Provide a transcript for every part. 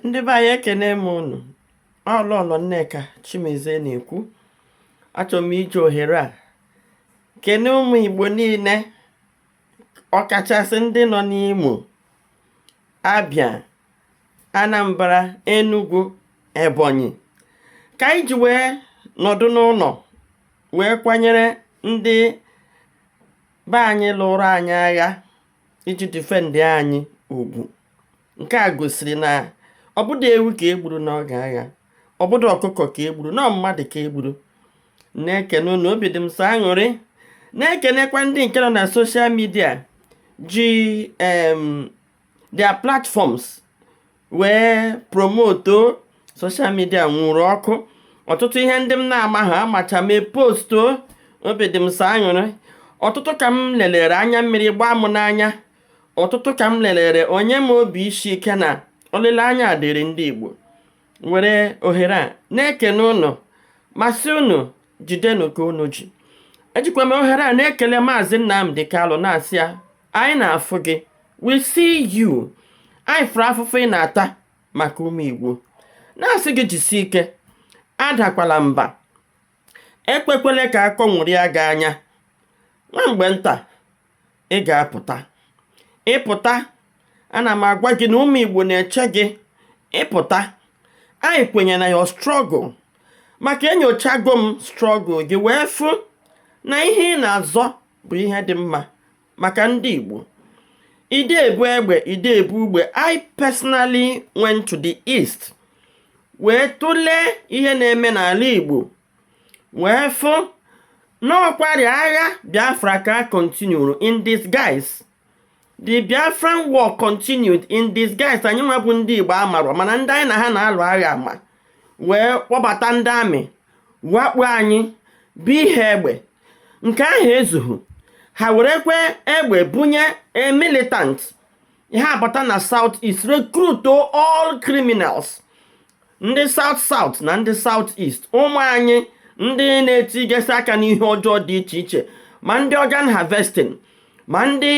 ndị be anyị ekene m unu ọ lọlọ nneka chimezie na-ekwu achọrọ m iji ohere a kene ụmụ igbo niile ọkachasị ndị nọ n'imo abia anambra enugu ebonyi ka anyị ji wee nọdụ n'ụlọ wee kwanyere ndị be anyị lụrụ anyị agha iji defend anyị ugwu nke a gosiri na ọ bụdụ ewu ka e gburu n'oge agha ọ bụdụ ọkụkọ ka e gburu na ọ mmadụ ka e gburu na-ekene unu obi dị m sọ aṅụrị na-ekenekwa ndị nke nọ na social media ji em their platforms wee promoto social media nwuru ọkụ ọtụtụ ihe ndị m na-amaha amacha mee posto obi dị m sọ aṅụrị ọtụtụ ka m lelere anya mmiri gbaa m n'anya ọtụtụ ka m lelere o nye m obi isi ike na olileanya dịrị ndị Igbo were ohere a na-ekene ụnụ ma sị ụnụ jidenụ ka ụnụ ji ejikwa m ohere a na-ekele maazị Nnamdi Kalụ na-asị ya Anyị na-afụ gị. We see you. Anyị fụrụ afụfụ ị na-ata maka ụmụ Igbo. Na-asị gị jisie ike. Adakwala mba. Ekwekwele ka akọ nwụrịa gị anya. Nwa mgbe nta, ị ga-apụta. Ị pụta, ana m agwa gị na ụmụ Igbo na-eche gị. Ị pụta, anyị kwenye na your struggle. Maka enyochago m struggle gị wee fụ na ihe ị na-azọ bụ ihe dị mma maka ndị Igbo ide ebu egbe ide ebu ugbe I personally went to the east wee tụlee ihe na-eme n'ala Igbo wee fụ na ọkwarị agha Biafra ka a continuru in disguise The Biafran war continued in disguise anyị nwa bụ ndị Igbo amarọ mana ndị anyị na ha na-alụ agha ama wee kpọbata ndị army wakpo anyị bunye egbe nke ahụ ezughị ha werekwe egbe bunye a militant ha abata na south east recruit all criminals ndị south south na ndị south east ụmụ anyị ndị na-etigesi aka n'ihe ọjọọ dị iche iche ma ndị organ harvesting ma ndị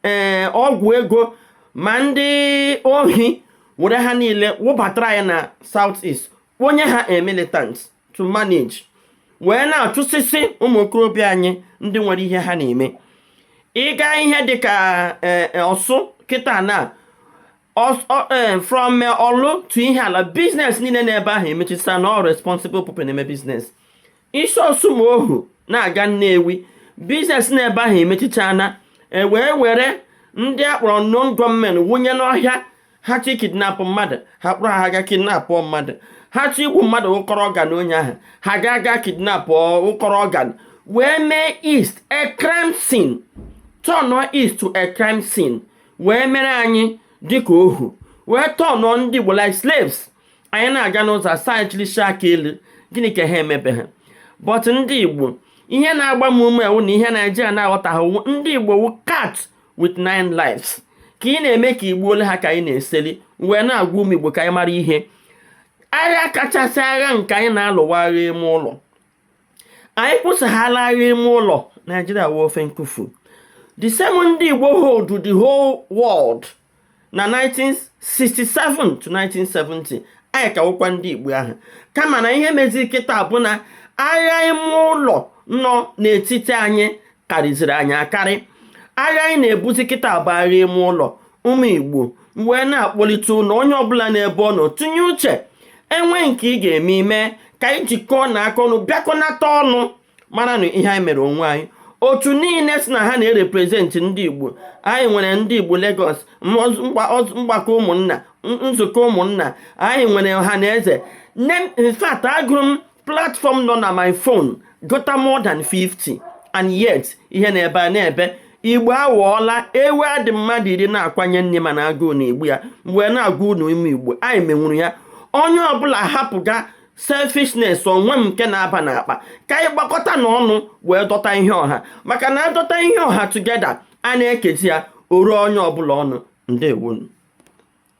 eh, ọgwụ ego ma ndị ohi were ha niile wụbatara ya na south east kponye ha a militant to manage wee na-achụsịsị ụmụ okorobịa anyị ndị nwere ihe ha na-eme ị gaa ihe dịka eh, eh, orsu kịta na Eh, from eh, Ọlụ to Ihiala business niile n'ebe ahụ emechisana all responsible people na-eme business i si Osumoghu na-aga Nnewi business n'ebe ahụ emechichana e wee were ndị a kpọrọ unknown gunmen wụnye n'ọhịa ha chọọ ikidnapụ mmadụ ha kpọrọ ha ga kidnapụ mmadụ ha chọọ igbu mmadụ kọrọ organ onye ahụ ha ga aga kidnapụ kọrọ organ wee mee east a crime scene turn east to a crime scene wee mere anyị dịka ohu wee turn ndị Igbo like slaves anyị na-aga n'ụzọ a sị anyị chilisie aka elu gịnị ka ha emebe ha but ndị Igbo ihe na-agba m ume wụ na ihe Naijiria na-aghọtaghị ndị Igbo wụ cat with nine lives ka ị na-eme ka i gbuole ha ka anyị na-eseli wee na-agwa ụmụ Igbo ka anyị mara ihe agha kachasị agha nke anyị na-alụ wụ agha ime ụlọ anyị kwụsahala agha ime ụlọ Naijiria wụ ofu nkufu the same ndị igbo hold the whole world na 1967 to 1970 anyị ka wụkwa ndị igbo ahụ kama na ihe mezi kịta bụ na agha ime ụlọ nọ n'etiti anyị karịziri anyị akarị agha anyị na-ebuzi kịta bụ agha ime ụlọ ụmụ igbo wee na-akpọlite unu onye ọbụla n'ebe ọ nọ tụnye uche e nwee nke ị ga-eme i mee ka anyị jikọọna aka ọnụ bịakọnata ọnụ mara na ihe anyị mere onwe anyị otu niile sị na ha na-erepresent ndị igbo anyị nwere ndị igbo Lagos mgbakọ ụmụnna nzukọ ụmụnna anyị nwere Ọhanaeze in fact agụrụ m platform nọ na my phone gụta more than 50 and yet ihe na-ebe a na-ebe igbo awọọla ewu a dị mmadụ iri na-akwanye nni mana agụụ na-egbu ya wee na-agwa unu ụmụ Igbo anyị menwuru ya onye ọbụla hapụga selfishness onwe m nke na-aba n'akpa ka anyị gbakọtana ọnụ wee dọta ihe ọha maka na a dọta ihe ọha together a na-ekezi ya o ruo onye ọbụla ọnụ ndewonu